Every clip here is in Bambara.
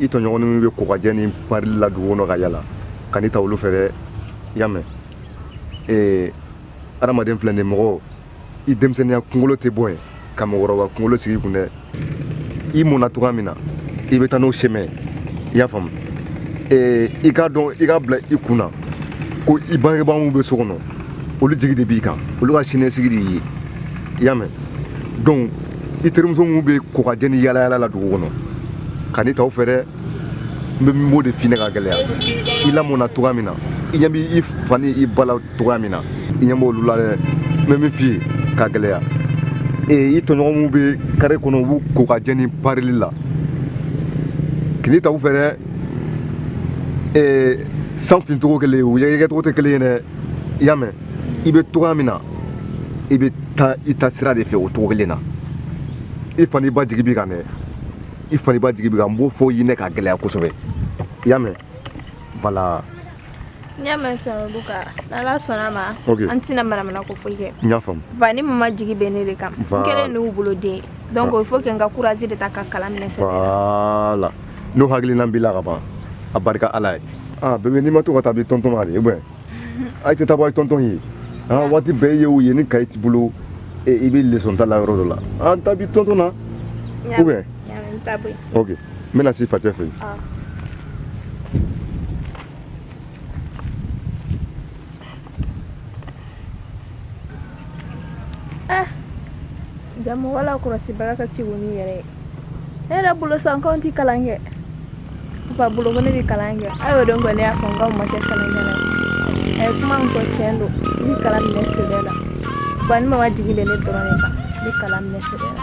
i tɔɲɔgɔn min bɛ kokajɛ ni parili la dugu kɔnɔ ka yala kan'i ta olu fɛ dɛ i y'a mɛn ee adamaden filɛ nin mɔgɔ i denmisɛnninya kunkolo tɛ bɔ yen ka mɔgɔkɔrɔba kunkolo sigi i kun dɛ i mɔna cogoya min na i bɛ taa n'o semɛ i y'a faamu i k'a dɔn i k'a bila i kun na ko i bangebaa minnu bɛ so kɔnɔ olu jigi de b'i kan olu ka siniɲɛsigi de y'i ye i y'a mɛn donc i terimuso minnu bɛ kokajɛ ni yaalayaala la dugu kɔnɔ kan'i ta u fɛ dɛ n bɛ min b'o de f'i ɲɛna ka gɛlɛya i lamɔna cogoya min na i ɲɛ b'i fa ni i ba la cogoya min na i ɲɛ b'olu la dɛ n bɛ min f'i ye ka gɛlɛya ee i tɔɲɔgɔn minnu bɛ kare kɔnɔ u b'u kokajɛ ni parili la kan'i ta u fɛ dɛ ee san fincogo kelen u yɛrɛkɛcogo tɛ kelen ye dɛ i y'a mɛn i bɛ cogoya min na i bɛ taa i ta sira de fɛ o cogo kelen na i fa n'i ba jigi b'i kan dɛ i fa n'i ba jigi b'i kan n b'o fɔ i ɲɛna ka gɛlɛya kosɛbɛ i y'a mɛn voilà N y'a mɛn cɛkɔrɔba kan n'ala sɔnna a ma an tɛna manamanako foyi kɛ n y'a faamu ba ni mama jigi bɛ ne de kan n kelen n'u bolo den donc il faut que n ka courage de ta ka kalan minɛ sɛbɛ la n'o hakilina b'i la ka ban a barika ala ye bébé n'i ma to ka taa b'i tɔntɔn na de ou bien a tɛ taa bɔ a ye tɔntɔn ye waati bɛɛ i ye o ye ni kaye t'i bolo i bɛ leçon ta la yɔrɔ dɔ la an taa b'i tɔntɔn na ou bien n bɛna s'i facɛ fɛ yen mɔgɔ lakɔlɔsibaga ka kegun n'i yɛrɛ ye ne yɛrɛ bolo sa n k'anw tɛ kalan kɛ papa bolo ko ne bɛ kalan kɛ a y'o dɔn kɔni ne y'a fɔ n k'anw ma kɛ kalankɛla ye a ye kuma min fɔ tiɲɛ don n bɛ kalan minɛ sɛbɛ la ba ni mama jigi bɛ ne dɔrɔn de kan n bɛ kalan minɛ sɛbɛ la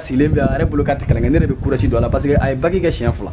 sigilen bɛ a yɛrɛ bolo k'a tɛ kalan kɛ ne de bɛ courage don a la parce que a ye bac kɛ siɲɛ fila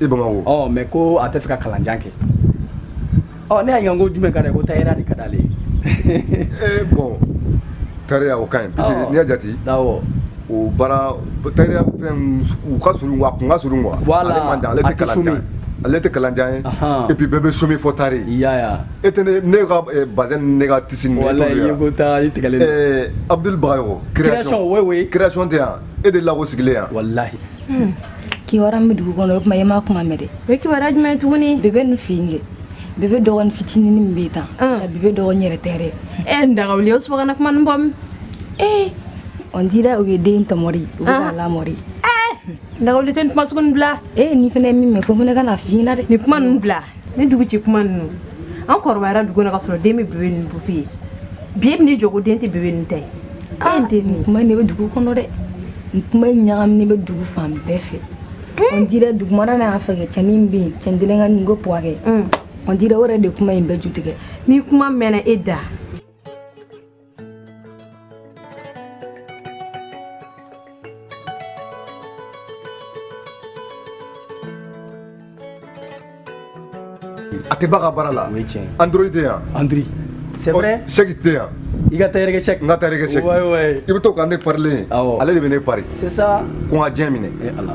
i bamakɔ ɔ mais ko a tɛ fɛ ka kalanjan kɛ ɔ ne y'a ɲininka ko jumɛn ka d'a ye ko tayɛriya de ka d'ale ye ee bon tayɛriya o ka ɲi parce que n'i y'a jate awɔ o baara tayɛriya fɛn u ka surun wa a kun ka surun quoi Voilà. ale man jan ale tɛ kalanjan ye ale tɛ kalanjan ye Ahan. et puis bɛɛ bɛ chômer fo tayɛriya e tɛ ne ne ka eh, bazɛn ni ne ka tisi ni ne wala t'olu i ye ye ko taa i tigɛlen don Eh, abdul bagayogo Création, oui, oui. création tɛ yan e de lako sigilen yan walahi Hmm. kiwara bɛ dugu kɔnɔ o kuma e ma kuma mɛn dɛ o kiwara jumɛn tuguni bebe nin fɛnkɛ bebe dɔgɔnin fitinin min bɛ tan hmm. jaa bebe dɔgɔnin yɛrɛ tɛ dɛ e n dagawuli o subagana kuma nin bɔ min ee eh. on dirait u ye den tɔmɔri u bɛ k'a lamɔri dagawuli tɛ nin kuma sugu nin bila ee eh, ne fana ye min mɛn fo fana ka n'a f'i ɲɛna dɛ nin kuma ninnu bila nin duguci kuma ninnu an kɔrɔbayara dugu na ka sɔrɔ den bɛ bebe nin bupi ye bi e bɛ n'i jɔ ko den tɛ bebe nin ta ye ah, e den nin kuma nin bɛ dugu kɔnɔ dɛ nin kuma ɲagaminen bɛ dugu fan bɛɛ fɛ hmm? on dirait dugumana na fɛnkɛ cɛnin bɛ yen cɛn kelen ka nin ko buwa kɛ hmm. on dirait o yɛrɛ de kuma in bɛɛ ju tigɛ ni kuma mɛnna e da a tɛ b'a ka baara la o ye tiɲɛ ye on dirait a tɛ yan on dirait c'est vrai sɛki tɛ yan i ka tayɛrɛ kɛ sɛki n ka tayɛrɛ kɛ sɛki wayi wayi i bɛ to ka ne parilen ye awɔ ale de bɛ ne pari c'est ça ko n ka diɲɛ minɛ e ala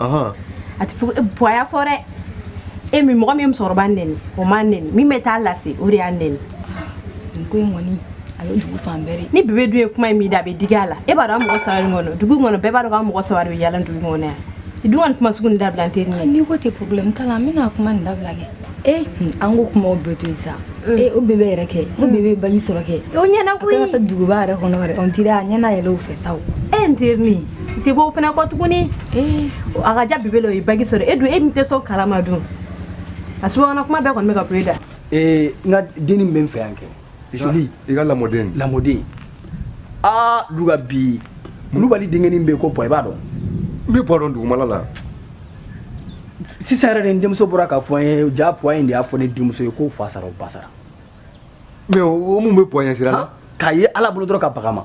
a tɛ bonya fɔ dɛ e min mɔgɔ min musokɔrɔba nɛni o ma nɛni min bɛ taa lase o de y'a nɛni ko in kɔni a bɛ dugu fan bɛɛ ni bebe dun ye kuma in mɛn i da a bɛ digi a la e b'a dɔn mɔgɔ saba kɔnɔ dugu kɔnɔ bɛɛ b'a dɔn k'an mɔgɔ saba bɛ yaala dugu kɔnɔ yan i dun kɔni kuma sugu dabila n teri n'i ko ten problème t'a la n bɛna kuma nin dabila kɛ e an ko kumaw bɛɛ to yen sa ee o bebe yɛrɛ kɛ o bebe ye baji sɔrɔ kɛ o ɲɛna koyi a ka taa duguba yɛrɛ kɔnɔ yɛrɛ on dirait a ɲɛ na yɛlɛ o fɛ sa o e n teri nin n tɛ bɔ o fana kɔ tuguni ee a ka ja bebe la o ye baji sɔrɔ e dun e min tɛ sɔn kalaman dun a subahana kuma bɛɛ kɔni bɛ ka bɔ e da ee n ka denni min bɛ n fɛ yan kɛ Joli i ka lamɔden lamɔden aa du bi kulubali denkɛnin bɛ yen ko buwa i b'a dɔn n bɛ buwa dɔn dugumala la sisan yɛrɛ n denmuso bɔra k'a fɔ n ye jaa buwa in de y'a fɔ ne denmuso ye k'o fa sara o ba sara mais o mun bɛ buwa sira la k'a ye ala bolo dɔrɔn ka bag'a ma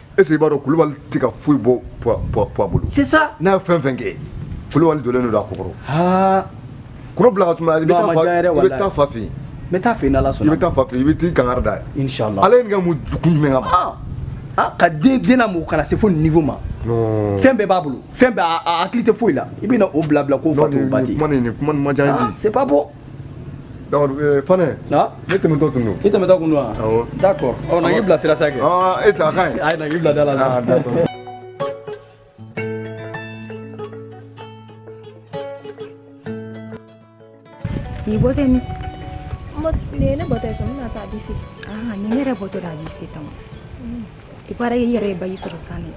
E b'a dɔn kulubali tɛ ka foyi bɔ bolo sisan n'a ye fɛn o fɛn kɛ kulubali donnen don a kɔ taa fa fɛ n taa fɛ ala sɔn i bɛ taa fa i bɛ taa kankari d'a ye ale ye mun jumɛn kama den den mɔgɔw kana se fo niveau ma fɛn bɛɛ b'a bolo fɛn bɛɛ a hakili tɛ foyi la i bɛna o bila bila ko fa se bɔ donc euh, fana ne tɛmɛtɔ tun don i tɛmɛtɔ kun don wa awɔ d'accord ɔ na n k'i bila sira sa kɛ ɔ e sa a ka ɲi ayi na n k'i bila da la sa d'accord ni bɔ tɛ ni nin ye ne bɔtɔ ye sɔn n bɛna taa abi fɛ aa nin ne yɛrɛ bɔtɔ de abi fɛ tama il paraît i yɛrɛ ye baki sɔrɔ san de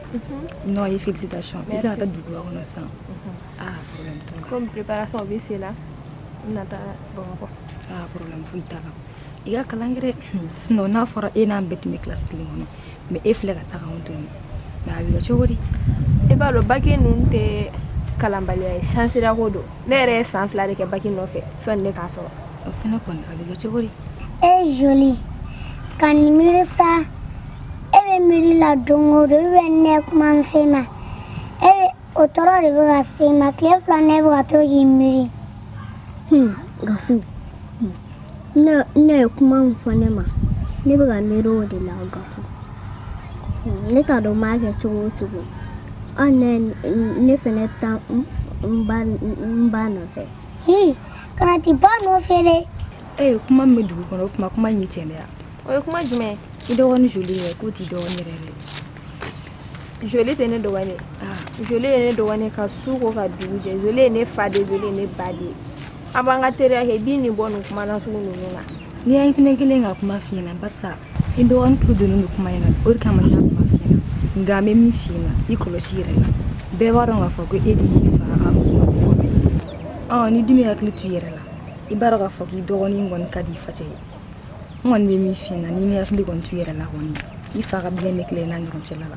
non ye félicitation i ka kan ka taa duguba kɔnɔ san ah problème t'o la comme préparation bɛ sen na n bɛna taa bamakɔ ah problème foyi t'a la i ka kalan kɛ dɛ sinon n'a fɔra e n'an bɛɛ tun bɛ classe kelen kɔnɔ mais e filɛ ka taa k'anw to yen mais a bɛ kɛ cogo di i b'a dɔn baki ninnu tɛ kalanbaliya ye chance de ko don ne yɛrɛ ye san fila de kɛ baki nɔfɛ sɔni ne k'a sɔrɔ O fana kɔni a bɛ kɛ cogo di. E joli kan'i miiri sa e bɛ miiri la don o don i bɛ ne kuma min f'e ma o tɔɔrɔ de bɛ ka se i ma tile fila in e bɛ ka to k'i miiri. Hmm, gafu n na ye kuma min fɔ ne ma ne bɛ ka miiri o de la gafu hmm, ne t'a dɔn n b'a kɛ cogo o cogo hali ne ne fana bɛ taa n ba nɔfɛ. kana t'i ba nɔfɛ dɛ ee eh, kuma min bɛ dugu kɔnɔ o kuma ko man ɲi tiɲɛ dɛ o ye kuma jumɛn i dɔgɔnin joli ye k'o t'i dɔgɔnin yɛrɛ dɛ joli tɛ ne dɔgɔnin ah. joli ye ne dɔgɔnin ka su ko ka dugu jɛ joli ye ne faden joli ye ne baden an b'an ka teriya kɛ i b'i nin bɔ nin kuma na sugu ninnu na n'i y'a fɛnɛ kelen ka kuma f'i ɲɛna barisa i dɔgɔnin tulo donnen don kuma in na o de kama n y'a kuma f'i ɲɛna nka n bɛ min f'i ɲɛna i kɔlɔsi i yɛrɛ la bɛɛ b'a dɔn k'a fɔ ko e de y'i fa ka musoman fɔlɔ ye ɔ n'i dun m'i hakili to i yɛrɛ la i b'a dɔn k'a fɔ k'i dɔgɔnin kɔni ka di i facɛ ye n kɔni bɛ min f'i ɲɛna n'i m'i hakili kɔni to i yɛrɛ la kɔni i fa ka bien bɛ tila i n'a ɲɔgɔn cɛla la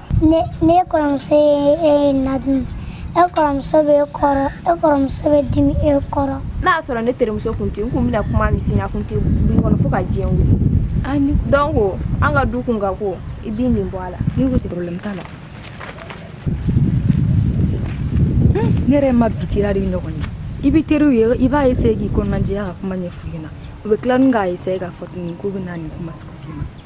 n'e kɔrɔmuso ye e na dun e kɔrɔmuso bɛ e kɔrɔ e kɔrɔmuso bɛ dimi e kɔrɔ n'a y'a sɔrɔ ne terimuso kun tɛ n kun bɛna kuma min f'i ɲɛna kun tɛ b'i kɔnɔ fo ka diɲɛ wuli ah, donc ko an ka du kɔnɔ ko i b'i nin bɔ a la ne ko problème t'a la ne yɛrɛ ma bi teriya de ɲɔgɔn ye i bɛ teriw ye i b'a essayer k'i kɔnɔnajɛya ka kuma ɲɛf'u ɲɛna u bɛ tila ni k'a essayer k'a fɔ tuguni k'u bɛ na nin kuma sugu f'i ma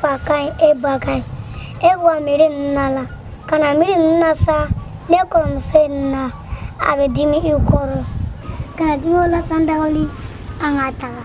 fa ka ɲi e ba ka ɲi e bɔ miiri ninnu na la kana miiri ninnu na sa n'e kɔrɔmuso ye nin na a bɛ dimi i kɔrɔ kana dimi o la san da wuli an ka taga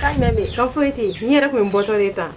K'a mɛn min ka foyi ten n'i yɛrɛ tun ye bɔtɔ de ta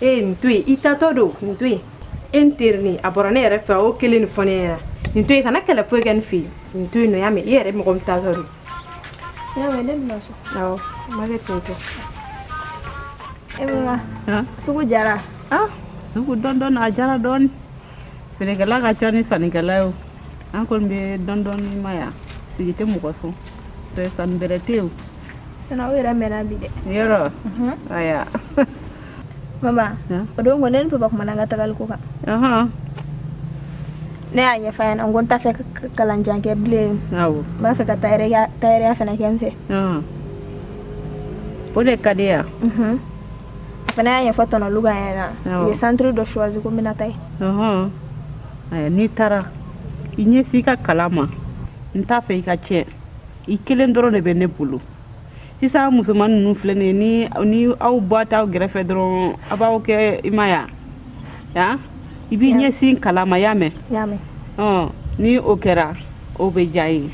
e ye nin to yen i taatɔ don nin to yen e n teri nin a bɔra ne yɛrɛ fɛ o kelen nin fɔ ne ɲɛna nin to yen kana kɛlɛ foyi kɛ nin fɛ yen nin to yen nɔ y'a mɛn i yɛrɛ mɔgɔ min taatɔ don y'a mɛn ne bɛna so awɔ a ma kɛ ten tɔ e mama sugu diyara ah sugu dɔɔni dɔɔni a diyara dɔɔni feerekɛla ka ca ni sannikɛla ye o an kɔni bɛ dɔɔni dɔɔni ma yan sigi tɛ mɔgɔ sɔn sanni bɛrɛ tɛ yen o Sina aw yɛrɛ mɛnna bi dɛ yɔrɔ aya mama o don ko ne ni papa kumana an ka tagali ko kan ne y'a ɲɛfɔ a ɲɛna n ko n t'a fɛ kalan jan kɛ bilen n b'a fɛ ka tayɛrɛya fana kɛ n fɛ o de ka di n ye a fana y'a ɲɛfɔ tɔnɔ luga ɲɛna u ye centre dɔ choisi ko n bɛna taa yen n'i taara i ɲɛsin i ka kalan ma n t'a fɛ i ka tiɲɛ i kelen dɔrɔn de bɛ ne bolo sisan musoman ninnu filɛ nin ye ni ni aw bɔ t'aw gɛrɛfɛ dɔrɔn a b'aw kɛ i ma aya i b'i ɲɛsin kalan ma y'a mɛn y'a mɛn ɔ ni o kɛra o bɛ diya n ye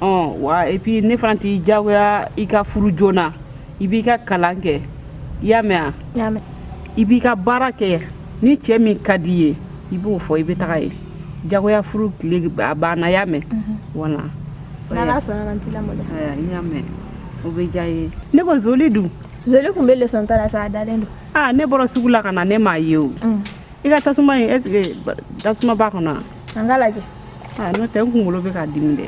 ɔ wa et puis ne fana t'i diyagoya i ka furu joona i b'i ka kalan kɛ i y'a mɛn y'a mɛn i b'i ka baara kɛ ni cɛ min ka di i ye i b'o fɔ i bɛ taga ye diyagoya furu tile a banna y'a mɛn voilà y'a mɛn o bɛ diya n ye ne ko zoli dun zoli tun bɛ leçon ta la sa a dalen don aa ne bɔra sugu la ka na ne m'a ye o i ka tasuma in est-ce que tasuma b'a kɔnɔ an ka lajɛ n'o tɛ n kunkolo bɛ ka dimi dɛ